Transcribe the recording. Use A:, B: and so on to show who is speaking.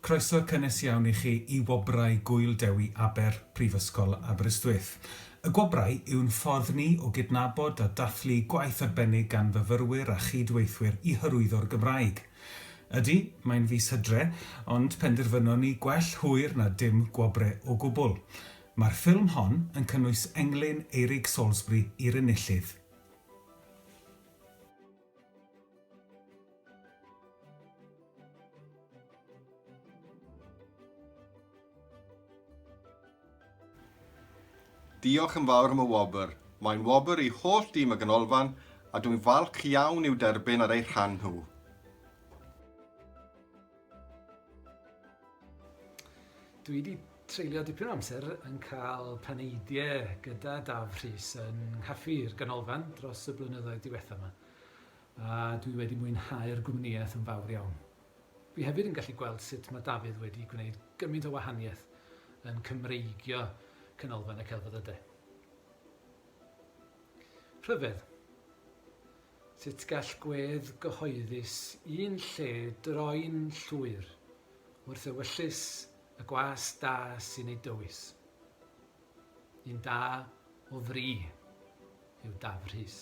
A: Croeso cynnes iawn i chi i Wobrau Gŵyl Dewi Aber, Prifysgol Aberystwyth. Y Gwobrau yw'n ffordd ni o gydnabod a dathlu gwaith arbennig gan fyfyrwyr a chyd-weithwyr i hyrwyddo'r Gymraeg. Ydy, mae'n fis Hydre, ond penderfynon ni gwell hwyr na dim gwobre o gwbl. Mae'r ffilm hon yn cynnwys englyn Eirig Salisbury i'r enillydd.
B: Diolch yn fawr am y wobr. Mae'n wobr i holl dîm y Ganolfan a dwi'n falch iawn i'w derbyn ar eu rhan nhw.
C: Dwi wedi treulio dipyn o amser yn cael paneidiau gyda Daf Rhys yn nghaffi'r ganolfan dros y blynyddoedd diwethaf yma, a dwi wedi mwynhau'r gwmnïaeth yn fawr iawn. Fi hefyd yn gallu gweld sut mae Dafydd wedi gwneud gymaint o wahaniaeth yn Cymreigio Canolfan y Celfyddydau. Rhyfedd. Sut gall gwedd gyhoeddus un lle droi'n llwyr wrth ewyllys y gwas da sy'n ei dywys? Un da o fri yw Dafydd Rhys.